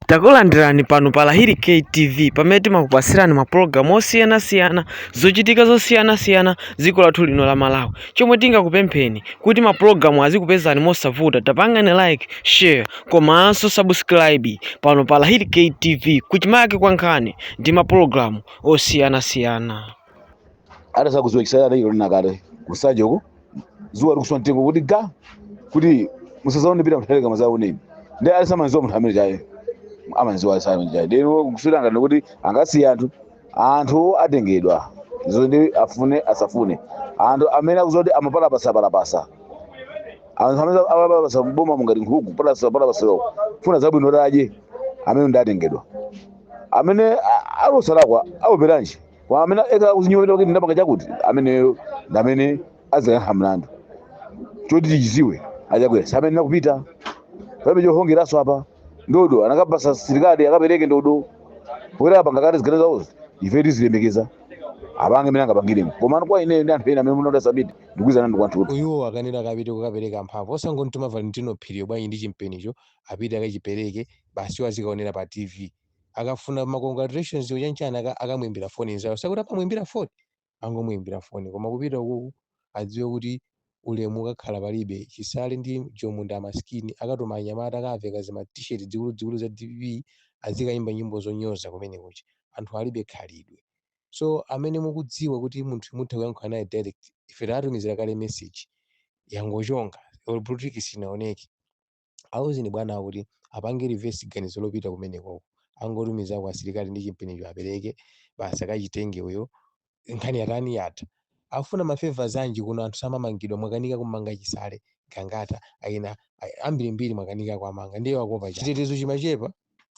Takulandirani pano pa Lahiri K TV pamene timakupatsirani mapulogalamu osiyanasiyana zochitika zosiyanasiyana dziko lathu lino la Malawi. Chomwe tingakupempheni kuti mapulogalamu azikupezani mosavuta, tapangani like, share komanso subscribe pano pa Lahiri K TV kuchimake kwa nkhani ndi mapulogalamu osiyanasiyana. akusakuziwa chisala anaikira nakale kusanja uko zuwa likuswa mtengo kuti ga kuti musazaone pita muzaleka muzaoneni ndi alisamanziwa munthu amene chaye amanziwa alisamene chaye lero kuswera ngati kuti angasiye anthu anthu atengedwa iwo ndi afune asafune anthu amene akuziwa kuti amapalapasa palapasa anthu amene amapalapasa mboma mungati nkhuku palapasa palapasa loko funa zabwino kuti adye amene ndi atengedwa amene a- alosalakwa aoperanji kwa amene akhala kuzinyowera kuti ndapanga chakuti ameneyo ndi amene adzayankha mlandu choti tichiziwe achakwera samene nakupita pamene chohongeraso apa ndodo anakapasa sirikali akapereke ndodo poyera apanga kale ziganizo zawozo ife tizilemekeza apange mene angapangiremo koma kwa ine ndi anthu ena amene munoda sabiti ndikuizana ndi kwanthu uyu akanena akapite kukapereka mphamvu osangomtuma Valentino Phiriyo bwanji ndi chimpenicho apite akachipereke basi iwo azikaonera pa tv akafuna ma congratulations wo chanichani aka- akamuimbira foni nzawo sikuti amamuimbira foni angomuimbira foni koma kupita ukuku adziwe kuti ulemu ukakhala palibe chisale ndi jomo ndi amaskini akatuma anyamata akaveke zima t-shirt dzikuluzikulu za dpp azikayimba nyimbo zonyoza kumene kucha anthu alibe khalidwe so amene mukudziwa kuti munthu mutha kuyankhula naye direct ife tatumizira kale message yangochonga politiki sinaoneke Auzeni bwanawo kuti apange reverse ganizo lopita kumenekoko. Angotumizako asilikali ndi chimpenicho apereke basi akachitenge uyo nkhani yatani yatha. Akufuna ma favours anji kuno anthu samamangidwa mwakanika kumanga Chisale, Gangata, maina ambirimbiri mwakanika kuwamanga ndiye akuopa chani. Chitetezo chimachepa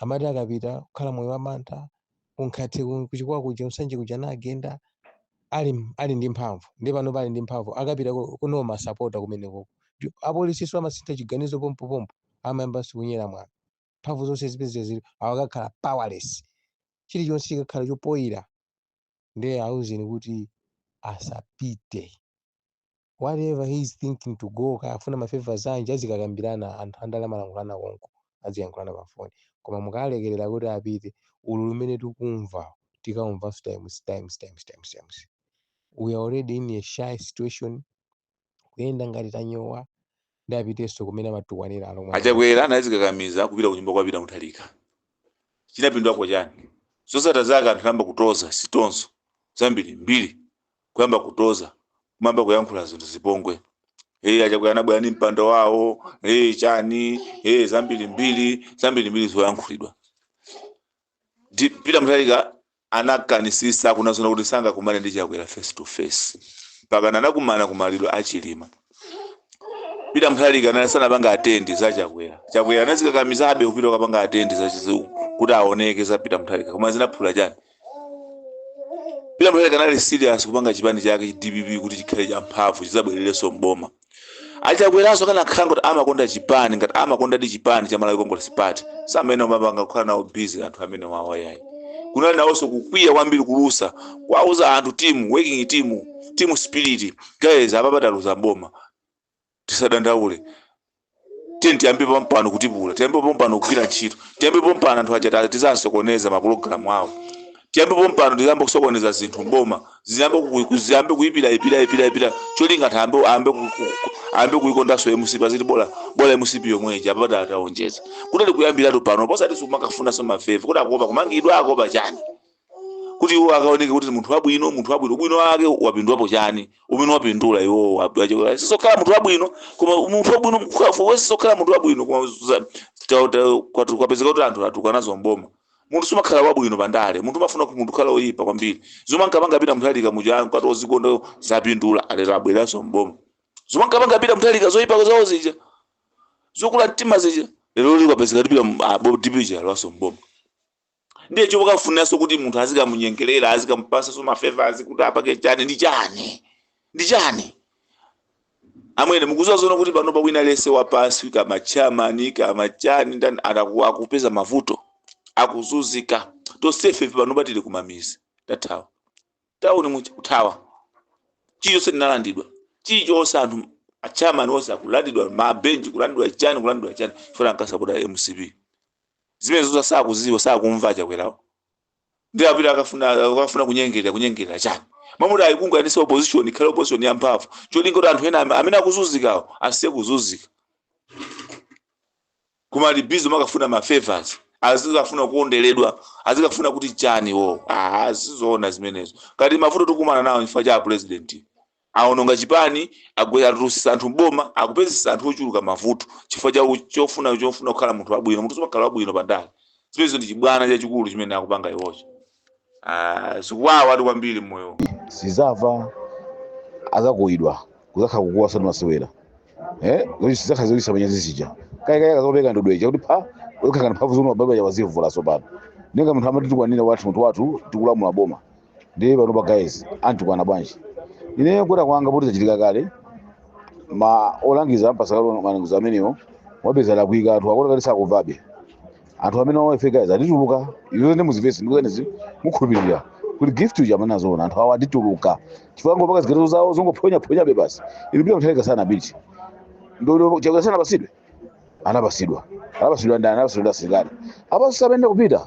amati akapita kukhala moyo wamantha kuNkhate ku- kuChikwawa kuja Nsanje kuja anagenda ali m- ali ndi mphamvu ndiye panopa ali ndi mphamvu akapita ku- kuno masapota kumenekoko apolisinso amasintha chiganizo pompopompo amayambanso kunyera mwana mphamvu zonse zipezeka zili awa akakhala powerless chilichonse chikakhala chofoira ndiye auzeni kuti asapite whatever he is thinking to go kaya afuna mafavors anji azikakambirana anthu andale amalankhulana konko aziyankhulana pa foni koma mukalekerera kuti apite ululu umene tikumva tikaumvanso times times times times times we are already in a shy situation kuyenda ngati tanyowa nde apitenso kumene amatukwanira alomwe aja. Achakwera anazikakamiza kupita kunyumba kwa Peter Mutharika. Chinapindulapo chani? Zosatira zake anthu anayamba kutoza sitonso zambiri mbiri kuyamba kutoza kuyamba kuyankhula zinthu zipongwe. Hey, Achakwera anabwera ndi mpando wawo hey, chani hey, zambiri mbiri zambiri mbiri zoyankhulidwa. Di- Peter Mutharika anakanisisa kunenazoona kuti sangakumane ndi Chakwera face to face mpaka anakumana ku maliro a Chilima. Peter Mutharika anali sanapanga attend za Chakwera. Chakwera anazikakamizabe kupita kapanga attend za chizu kuti aoneke za Peter Mutharika koma zinapindula chani. Peter Mutharika anali serious kupanga chipani chake DPP kuti chikhale cha mphamvu chizabwererenso mboma. achakweraso akanakhala kuti amakonda chipani ngati amakondadi chipani cha malawi congress party samayenera kumapanga kukhala nawo busy anthu amene awa ayi kunali nawonso kukwiya kwambiri kulusa kwauza anthu team working team team spirit guys apapa taluza boma tisadandaule tiyeni tiyambe pompano kutipula tiyambe pompano kugwira ntchito tiyambe pompano anthu aja ta- tizasokoneza mapulogalamu awo tiyambe pompano tiyambe kusokoneza zinthu mboma ziyambe ku- ku- ziyambe kuyipira ipira ipira ipira cholinga anthu ayambe ayambe ku- ku- ku- ayambe kuyikondanso mcp aziti bola bola mcp yomweija apapa atawonetsa kuti akuyambiratu pano osati kumakafunanso ma favor kuti akuopa kumangidwa akuopa chani kuti iwo akaoneke kuti ndi munthu wabwino munthu wabwino ubwino wake wapindulapo chani umene wapindula iwowo abdachokera sizokhala munthu wabwino koma munthu wabwino mkhafu sizokhala munthu wabwino koma za- ta- ta- kwatu- kwapezeka kuti anthu atulukanso mboma munthu sumakhala wabwino pandale munthu umafuna kuti munthu ukhale oyipa kwambiri zomwe ankapanga Peter Mutharika muja nkumati ozikonda zapindula alero abweranso mboma zomwe ankapanga Peter Mutharika zoyipa zawo zija zokula mtima zija leroli kwapezeka kuti DPP ija yalowaso mboma ndiye chomakafuniranso kuti munthu azikamunyengerera azikamupasanso ma favors kuti apake chani ndi chani ndi chani amwene mukuziwa zoona kuti pano wina aliyense wapansi kaya ma chairman kaya ma chani ndani ataku- akupeza mavuto akuzuzika tonsefe ife pano tili kumamizi tathawa tauni mucha kuthawa chilichonse ndinalandidwa chilichonse anthu a chairman onse akulandidwa mabenchi kulandidwa chani kulandidwa chani poona ankasapota mcp Zimenezozo sakuziwa sakumva achakwerawo ndiye apita akafuna akafuna kunyengerera kunyengerera chani mmalo moti ayikunganize opposition ikhale opposition ya mphamvu cholinga kuti anthu ena am- amene akuzunzikawo asiye kuzunzika koma ali busy makafuna ma favors azikafuna kukonderedwa azikafuna kuti chani iwo ah sizoona zimenezo kati mavuto tikumana nawo chifukwa cha a president Awononga chipani, agwesa, atulutsisa anthu m'boma, akupezetsa anthu ochuluka mavuto chifukwa cha chofuna chofuna kukhala munthu wabwino. Munthu sumakhala wabwino pa ndale. Zimenezo ndi chibwana chachikulu chimene akupanga iwocho. Aaa zikuwawatu kwambiri mmoyo umu. sizamva azakuwidwa kuzakhala kukuwa osati masewera eh kuti sizakhala zochititsa manyazi zija kaya kaya akazapeka ndodo ija kuti pha ukakhala mphamvu zomwe baba ya wazivula sopano nenga munthu amatitukwana wathu munthu wathu tikulamula boma ndiye pano pa guys antitukwana bwanji ine kuwera kwanga poti zachitika kale ma olangiza ampatsa kale malangizo amenewo wapeza walakwitsa anthu akuona kale sakumvabe anthu amene wawafe guys atituluka izo ndi muzivesi ndikunenazi mukhulupirira kuti gift uja amanena zoona anthu awo atituluka chifukwa ngopaka ziganizo zawo zongophonyaphonyabe basi inu pita mthalika sana bichi ndodo Chakwera sanapatsidwe anapatsidwa anapatsidwa ndani anapatsidwa ndi asilikali abaso sapenda kupita